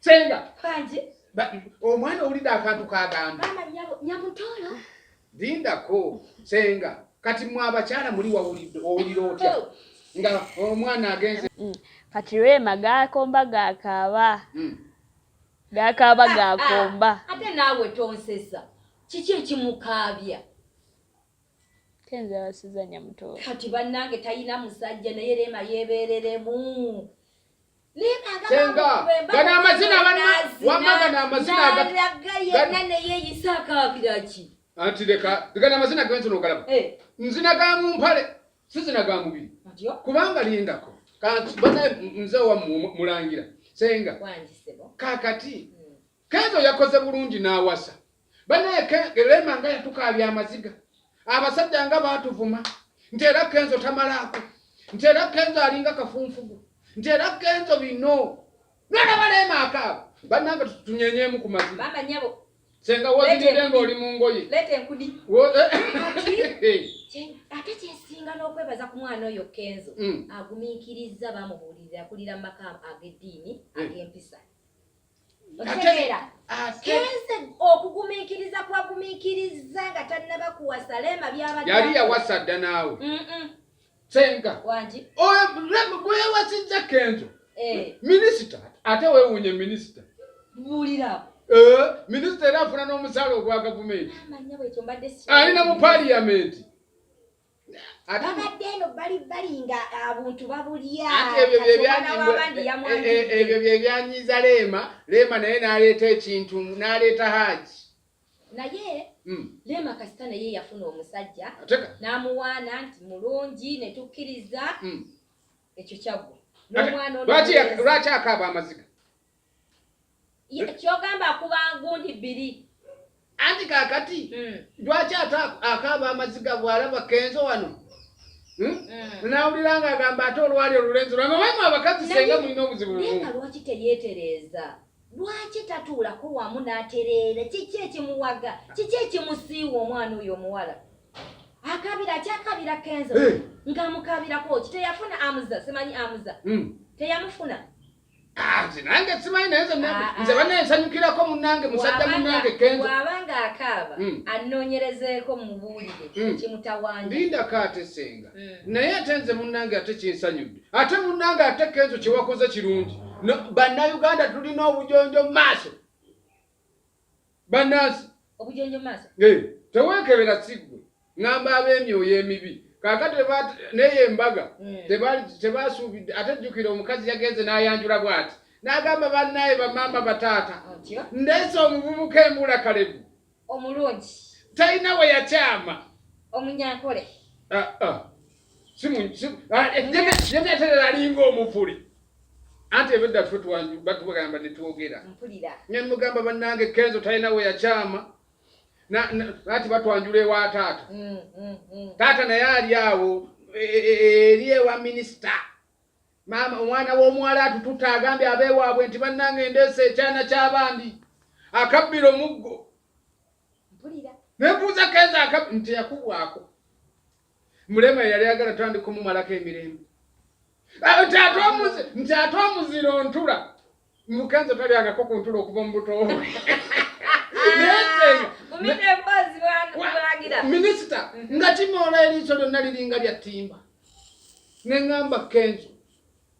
Senga. Kaji. Ba omwana owulidde akantu kagamba. Mama nyabo nyamutola. Dinda ko senga kati mwa abakyala muli wawulidde owulira otya oh. nga omwana agenze. Mm. Kati rema gakomba gakaaba. Mm. Gakaaba ah, gakomba. Ah. Ate naawe tonsesa. Kiki ekimukaabya? Kenzo yawasiza nyamutola. Kati bannange talina musajja naye rema yeebereremu. senga gano amazina wamma gano amazina anti leka gano amazina genzi nogalaba eh. nzina ga mumpale sizina ga mubiri kubanga lindako kanti bana mzee wa mulangira senga kakati Kenzo yakoze bulungi n'awasa. Banaye Rema nga yatukaabya amaziga. Abasajja nga baatuvuma nti era Kenzo tamalaako nti era Kenzo alinga kafunfugu nti era Kenzo bino nolaba Rema akaaba bannange tunyenyeemu ku maziga. Senga wozidde ng'oli mu ngoye. Leeta enkudi. Ate kyesinga n'okwebaza ku mwana oyo Kenzo mm. agumiikirizza bamubuulirira akulira mu maka ag'eddiini mm. ag'empisa. otegeera kenze okugumiikiriza kwagumiikirizza nga tannaba kuwasa leema byabadde yali yawasa dda naawe senga bwewasizza kenzo eh. minisita ate wewunye minisita buulirao eh, minisita era afuna n'omusaala ogwa gavumenti alina mu paliyamenti abadde eno bali bali nga abuntu ah, babulya ebyo byebyanyiiza leema leema naye naleeta ekintu naleeta haaji naye hmm. leema kasita naye yafuna omusajja namuwaana nti mulungi netukkiriza hmm. ekyo kyaggwa nomwana lwaki akaba amaziga kyogamba akuba ngundi bbiri anti kakati hmm. lwaki ate akaaba amaziga bwalaba kenzo wano hmm? Hmm. nawulira nga agamba ate olwali olulenzi lwano wema abakazi senga mulina obuzibu nga lwaki teyetereeza lwaki tatuulako wamu n'atereera kiki ekimuwaga kiki ekimusiiwa omwana oyo omuwala akabira kyakabira kenzo eh. nga mukabirako ki teyafuna amuza simanyi amuza hmm. teyamufuna Ah, nze nange simanyi naye nze ah, ah. bana ensanyukirako munange musajja munange kenzoaba nga akaaba hmm. anoonyerezeeko mubuulire hmm. kimutawanya linda kaate senga hmm. naye ate nze munange ate kinsanyudde ate munange ate kenzo kyewakoze kirungi bannayuganda tulina obujonjo mu maaso bannansi obujonjo maaso eh, teweekebera siggwe ngamba ab'emyoyo emibi kakati neyo embaga hmm. tebasuubidde ate jjukira omukazi yagenze n'ayanjula bw'ati n'agamba bannaye bamaama bataata ndeese omuvubuka embula kalebu omulungi talina we yakyama omunyankole ah, ah. ah, eh, yemeterera alinga omuvule anti ebedda ffe batugamba netwogera nemugamba bannange kenzo talina we yakyama nati batwanjula ewa taata mm, mm, mm. taata naye ali awo e, e, e, eri ewa minisita maama omwana w'omuwala atututa agambye abeewaabwe nti bannange endeesa ekyana ky'abandi akabbira omuggo nebuuza kenzo nti yakubwako mulema yali agala tandika omumalako emirembe ah, nti ate omuzira ontula mukanza talyangako ku ntula okuva mu buto minisita nga kimoola eriiso lyonna liringa lya ttimba ne ŋŋamba kenzo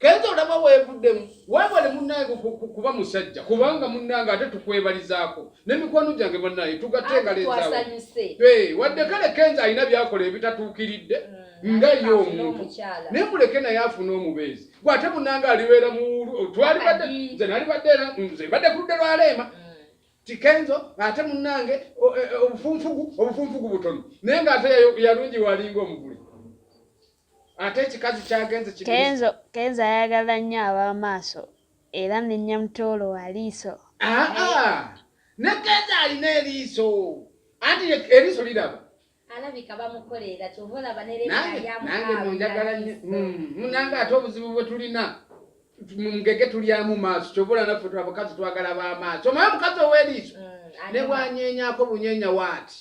Kenzo olaba weevuddemu weebale munnange kuba musajja kubanga munnange ate tukwebalizaako ne mikwano gyange bannange tugatte engalezaawo wadde kale Kenzo alina byakola ebitatuukiridde mm, nga ye omuntu naye muleke naye afuna omubeezi gwe ate munnange alibeera mu twalibadde nze nalibadde era nze mbadde ku ludde lwa leema mm. tikenzo ate munnange e, e, obufunfugu obufunfugu butono naye ng'ate yalungi walinga omuguli ate ekikazi kyagenze kenzo kenzo ayagala nnyo ab'amaaso era ne nyamutoolo wa liiso aa ah, ah. ne kenzo alina eriiso anti eriiso liraba alabika bamukolera kyova olaba nereayanange munjagala nyo hmm, munange ate obuzibu bwe tulina mungege tulyamu maaso kyova olaba naffe abakazi twagala ba maaso omaye omukazi ow'eriiso hmm, ne bwanyenyako bunyenya waati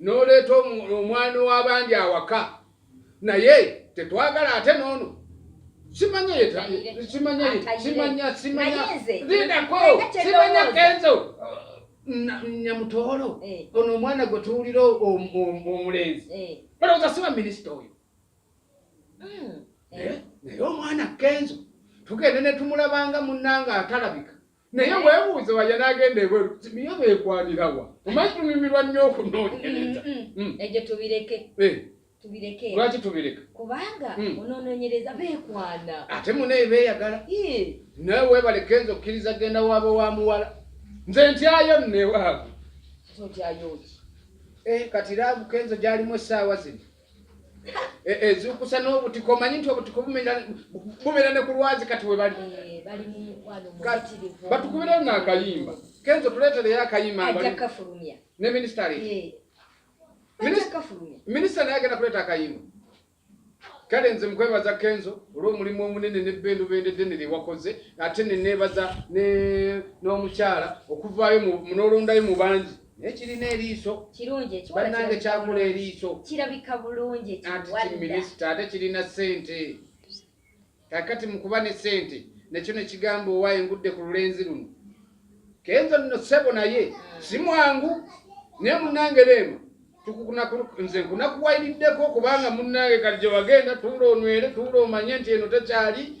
noleeta omwami wabandi awaka naye tetwagala ate noono nyamutoolo eh. ono omwana gwe tuwulira omulenzi eh. balowooza siba minisita oyo hmm. eh, naye omwana kenzo tugende netumulabanga munanga atalabika naye webuuze waja nagenda ebweru niyo bekwanirawa omanyi tunyumirwa nnyo okunonyereza mm, mm, mm. egyo tubireke eh. tubireke lwaki tubireka kubanga onononyereza bekwana ate munaye beyagala naye webale kenza okkiriza genda waaba wa muwala nze ntyayo nnewaabwe eh, kati laavu kenzo gyalimu essaawa zino Eh, eh, zukusa n'obutiko omanyi nti obutiko bumera ne ku lwazi kati we bali eh, batukubirayo n'akayimba kenzo tuleetereyo akayimba ne minisita minisita naye agenda kuleeta akayimba kale nze mukwebaza kenzo olw'omulimu omunene nebbendubende ddene lye wakoze ate neneebaza n'omukyala okuvaayo n'olondayo mu bangi naye kirina eriiso kirungi bannange kyakula eriiso kirabika bulungi minisita ate kirina ssente kakati mukuba ne ssente nekyo nekigamba owaye ngudde ku lulenzi luno kenzo nno ssebo naye hmm. si mwangu naye munnange beema nze nkunakuwayiriddeko kubanga munnange kati gye wagenda tuula onywere tuula omanye nti eno tekyali